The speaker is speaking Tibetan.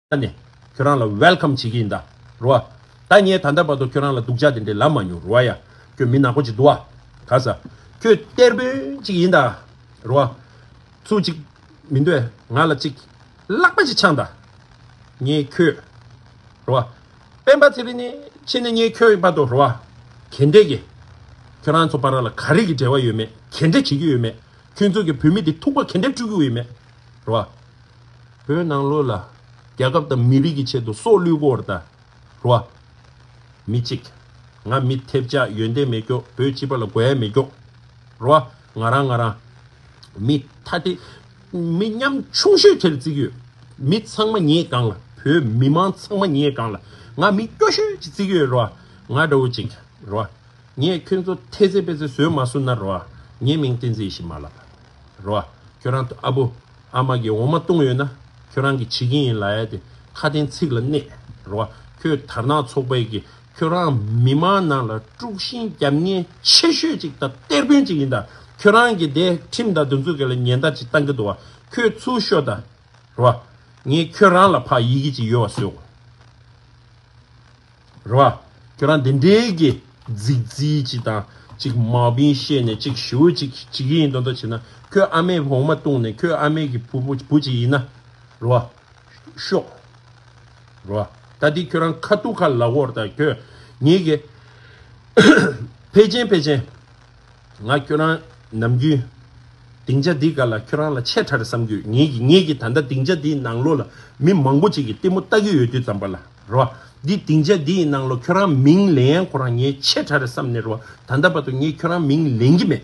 ད་ནས་ཁྱོད་རང་ལ Welcome བྱེད་ཀྱི་ཡིན་ད་རོ་ཨ། ད་ངས་ད་ལྟ་བར་དུ་ཁྱོད་རང་ལ་སྡུག་ཅག་དེ་འདྲའི་ལབ་མ་མྱོང་རོ་ཨ་ཡ། ཁྱོད་མི་ནག་པོ་ཅིག་འདུག་ཨ། ག་ས། ཁྱོད་གཏེར་དཔོན་ཅིག་ཡིན་ད་རོ་ཨ། ཚུར་ཅིག་མི་འདོད་ང་ལ་ཅིག་ལག་པ་ཅིག་འཆང་ད། ངས་ཁྱོད། རོ་ཨ། སྤེན་པ་ཚེ་རིང་ནི་ཕྱིན་ནས་ངས་ཁྱོད་བར་དུ་རོ་ཨ། གྱེས་འབྲེག་གི། ཁྱོད་རང་ཚོ་བར་ལ་ག་རེ་གི་འབྲེལ་བ་ཡོད་མེད་གྱེས་འབྲེག་བྱེད་ཀྱི་ཡོད་མེད། ཁྱོད་ཚོ་གི་བོད་མི་དེ་ཐུག་པ་གན་འདེབས་བཅུག་རྒྱུ་ཡེ་མེད་རེད་བ། བོད་ནང་ལོས་ལ། རྒྱ་ཁབ་དང་མི་རིགས་ཀྱི་ཆེད་དུ་སྲོག་བླུས་སྐོར་དང། རེད་བ། མི་གཅིག། ང་མི་ཐེབས་ཆག་ཡོན་ཏན་མེད་ཀྱོ་བོད་སྤྱི་པ་ལ་དགོས་ཡ་མེད་ཀྱོ། རེད་བ། ང་རང་ང་རང། མི་ཐ་དེ། མི་ཉམ་ཆུང་ཤོས་དེར་བརྩི་གི་ཡོད། མི་ཚང་མ་ཉེས་གང་ལ་བོད་མི་མང་ཚང་མ་ཉེས་གང་ལ་ང་མི་སྐྱོ་ཤོས་ཀྱི་བརྩི་གི་ཡོད་རེད་བ། ང་འདྲ་བོ་གཅིག། རེད་བ། ངས་ཁྱོད་ཚོ་ཐེ་ཚེ་པེ་ཚེ་བཟོས་མ་སོང་ན་རོ་ཨ། ངའི་མིང་བསྟན་ཚེ་ཞིག་མ་ལབ། རོ་ཨ། ཁྱོད་རང་ཨ་བུ། ཨ་མ་གིས་འོ་མ་བཏུང་ཡོད་ན། ཁྱོད་རང་གིས་བྱེད་ཀྱིན་ཡིན་ལ་ཨ་དེ་ཁ་གཏན་ཚིགས་ལ་གནས། རོ་ཨ། ཁོས་དར་ནག་ཚོགས་པའི་གིས་ཁྱོད་རང་མི་མང་ནང་ལ་དཀྲུགས་ཤིང་རྒྱབ་ངན་ཆེ་ཤོས་ཅིག་དང་གཏེར་དཔོན་ཅིག་ཡིན་ད། ཁྱོད་རང་གིས་དེ་ཁྲིམས་དང་དུ་འཛུགས་གལ་ལ་ཉེན་བརྡ་ཅིག་བཏང་གི་འདུག་ཨ། ཁོས་ཚུར་ཤོད་ད། རེད་བ། ངས་ཁྱོད་རང་ལ་ཕ་ཡི་གི་ཅིག་ཡོད་བ་བཟོས་གོ། རེད་བ། ཁྱོད་རང་འདི་འདྲའི་གི་རྫིག་རྫིག་ཅིག་དང་ཅིག་མ་བིན་བཤད་ནས་ཅིག་ཞུ་བོ་ཅིག་ཅིག་ཡིན་འདོ་འདོ་བྱེད་ན་ཁྱོད་ཨ་མས་བོང་མ་བཏུང་ནས་ཁྱོད་ཨ་མས་གི་བུ་བུ་ཅིག་ཡིན་ན། རེད་བ། ཤོག། རེད་བ། ད་འདི་ཁྱོད་རང་ཁ་ཐུག་ཁ་ལག་བོར་དང་ཁྱོད་ངས་གི། ཕལ་ཆེན་ཕལ་ཆེན། ང་ཁྱོད་རང་ནམ་རྒྱུན། སྡིངས་ཆ་འདི་ག་ལ་ཁྱོད་རང་ལ་ཆེས་ཕྲ་རེད་བསམ་གྱི་ཡོད་ངེས་ཀྱི་ངེས་ཀྱི་ད་ལྟ་སྡིངས་ཆ་འདིའི་ནང་ལོགས་ལ་མི་མང་པོ་ཅིག་གིས་ལྟད་མོ་ལྟ་གི་ཡོད་དུས་ཙམ་པ་ལ་རེད་བ། འདི་སྡིངས་ཆ་འདིའི་ནང་ལོགས་ཁྱོད་རང་མིང་ལེན་ཡང་ཁོ་རང་ངས་ཆེས་ཕྲ་རེད་བསམ་ནས་རེད་བ་ད་ལྟ་བར་དུ་ངས་ཁྱོད་རང་མིང་ལེན་གྱི་མེད།